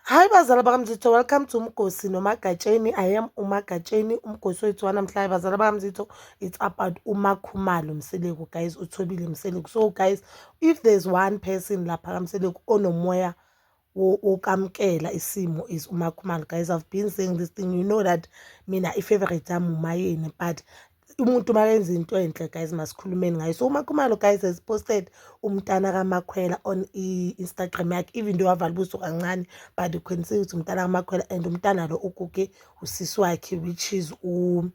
Hi bazala bakamzitho welcome to umgosi nomagatsheni i am umagatsheni umgosi wethu wanamhlanje bazala bakamzitho it's about umakhumalo mseleku guys uthobile mseleku so guys if there's one person lapha kamseleku onomoya wokamkela isimo is umakhumalo guys i've been saying this thing you know that mina i-favorite yami umayeni but umuntu makenza into enhle guys masikhulumeni ngayo so umakhumalo guys has posted umntana kamakhwela on i-instagram yakhe even though wavala ubuso kancane but you can see ukuthi umntana kamakhwela and umntana lo uguge usisi wakhe which is um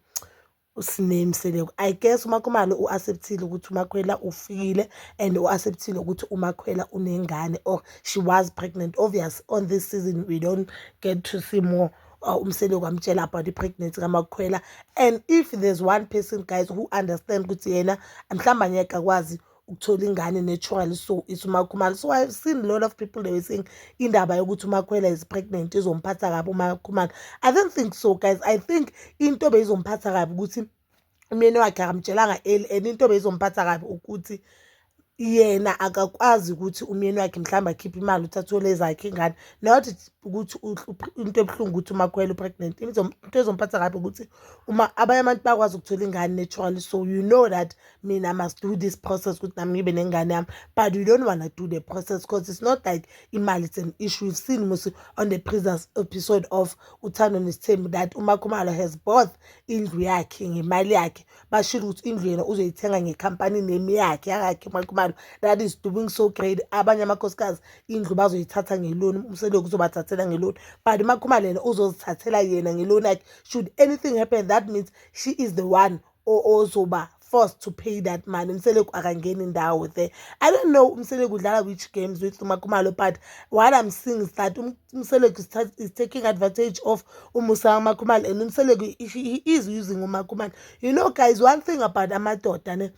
usiname seleko i guess umakhumalo u-acceptile ukuthi umakhwela ufile and u-acceptile ukuthi umakhwela unengane or she was pregnant obvious on this season we don't get to see more uh, umsele kwamtshela about i-pregnancy kamakhwela and if there's one person guys who understand ukuthi yena mhlawumbe angeke akwazi ukuthola ingane naturally so it's umakhumalo so i've seen a lot of people they were saying indaba yokuthi umakhwela is pregnant izomphatha kabi umakhumalo i don't think so guys i think into beyizomphatha kabi ukuthi umyeni wakhe akamtshelanga eli and into beyizomphatha kabi ukuthi yena akakwazi ukuthi umyeni wakhe mhlawumbe akhiphe imali ukuthi athole ezakhe ingane not ukuthi into ebuhlungu ukuthi umakhwela upregnant into ezomphatha kabi ukuthi uma abanye abantu bakwazi ukuthola ingane naturally so you know that mina I must do this process ukuthi nami ngibe nengane yami but you don't wanna do the process because it's not like imali it's an issue we've seen musi on the previous episode of uthando nesithembu that umakhumalo has both indlu yakhe ngemali yakhe bashilo ukuthi indlu yena uzoyithenga ngekhampani nemi yakhe yakakhe umakumalo that is doing so great abanye amakhosikazi indlu bazoyithatha ngeloni umsebenzi uzobathathela ngeloni but umakumalo yena uzozithathela yena ngeloni yakhe should anything happen that means she is the one ozoba forced to pay that money umseleku akangeni ndawo there i don't know umseleku udlala which games with umakhumalo but what i'm seeing is that um, umseleku is taking advantage of umusa umakhumalo and umseleku he is using umakhumalo you know guys one thing about amadoda ne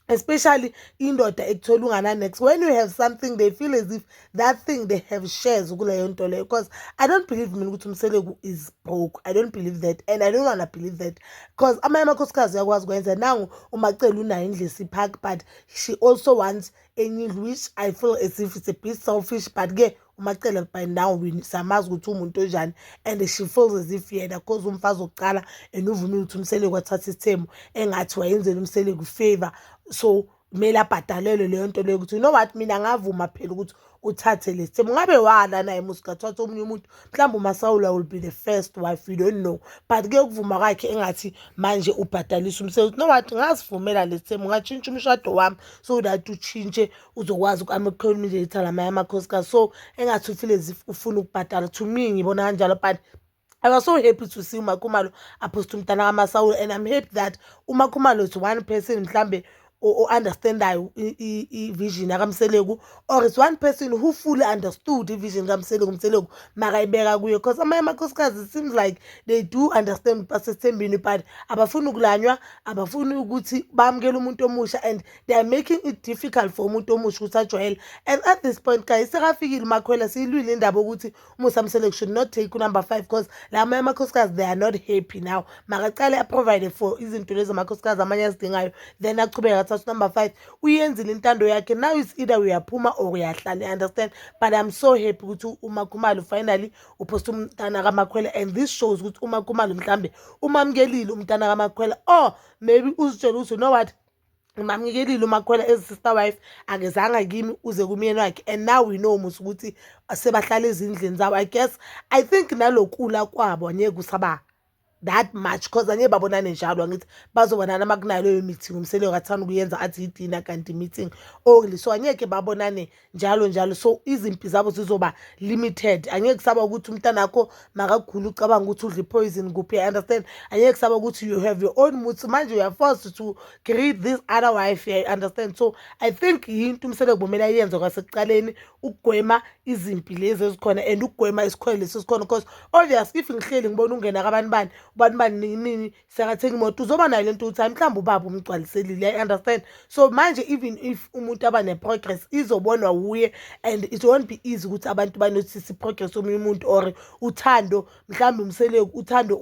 especially indoda ekuthola ungananex when you have something they feel as if that thing they have shares kuleyo nto leyo because i don't believe mina ukuthi umseleku is broke i don't believe that and i don't wanna believe that because amanye amakhosikazi uyakwazi ukwenza nangu umacele unayo indlu esipark but she also wants enye indlu which i feel as if it's a bit selfish but ke umacele by now siyamazi ukuthi umuntu onjani and she feels as if yena cause umfazi wokuqala and uvumile ukuthi umseleku athathe isithembu engathi wayenzela umseleku favor so kumele abhadalelwe leyo nto leyo ukuthi you know what mina ngavuma phela ukuthi uthathe le sithembu ngabe wala naye musikathatha omunye umuntu mhlawumbe umasawula will be the first wife you don't know but kuyokuvuma kwakhe engathi manje ubhadalisa umsebenzi ukuthi nowathi ngazivumela le sithembu ngatshintsha umshado wami so that utshintshe uzokwazi uku-amcommunitha lamanye amakhosikazi so engathi ufile zif ufuna ukubhadala to me ngibona kanjalo but I was so happy to see uMakhumalo aphosta umntana kaMasawula and I'm happy that uMakhumalo is one person mhlambe o-understandayo i-vision yakamseleku or is one person who fully understood i-vision kamseleku mseleku makayibeka kuye because amanye amakhosikazi it seems like they do understand basesithembini but abafuni ukulanywa abafuni ukuthi bamukele umuntu omusha and they are making it difficult for umuntu omusha ukuthi ajwayele and at this point guys sekafikile umakhwela siyilwile indaba ukuthi umusa mseleku should not take unumber five because la amanye amakhosikazi they are not happy now makacale aprovide for izinto lezi amakhosikazi amanye azidingayo then achubeke athatha unumber five uyenzile intando yakhe now is either uyaphuma or uyahlala i-understand but i'm so happy ukuthi umakhumalo finally uphosta umntana kamakhwela and this shows ukuthi umakhumalo mhlawumbe umamkelile umntana kamakhwela or maybe uzitshela ukuthi you know what ngimamnyikelile umakhwela as sister wife akezanga kimi uze kumyeni wakhe and now we know musa ukuthi sebahlala ezindlini zabo i guess i think nalokula kwabo angeke kusaba that much cause angeke babonane njalo angithi bazobonana uma kunayo leyo meeting umseleyo kathanda ukuyenza athi yidina kanti meeting only so angeke babonane njalo njalo so izimpi zabo zizoba limited angeke kusaba ukuthi umntana wakho makagula ucabanga ukuthi udla ipoison kuphi i understand angeke kusaba ukuthi you have your own moods manje uya forced to greet this other wife i understand so i think yinto umsebe kubomela yenze kwasekuqaleni ukugwema izimpi lezi ezikhona and ukugwema isikhwele lesi esikhona because obvious if ngihleli ngibona ungena kabani bani ubani bani nini sengathenga imoto uzoba nayo lento ukuthi hayi mhlawumbe ubaba umgcwaliselile i understand so manje even if umuntu aba ne progress izobonwa wuye and it won't be easy ukuthi abantu banothisa i progress omunye umuntu or uthando mhlawumbe umseleku uthando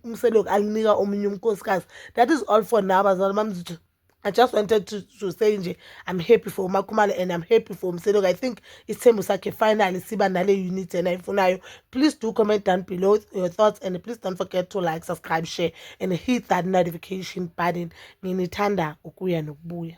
umseleku alinika omunye unkosikazi that is all for now bazali mamzithu I just wanted to, to say nje I'm happy for uMakhumalo and I'm happy for Mseloko. I think isithembu sakhe finally siba nale unit yena ayifunayo. Please do comment down below your thoughts and please don't forget to like, subscribe, share and hit that notification button. Nginithanda ukuya nokubuya.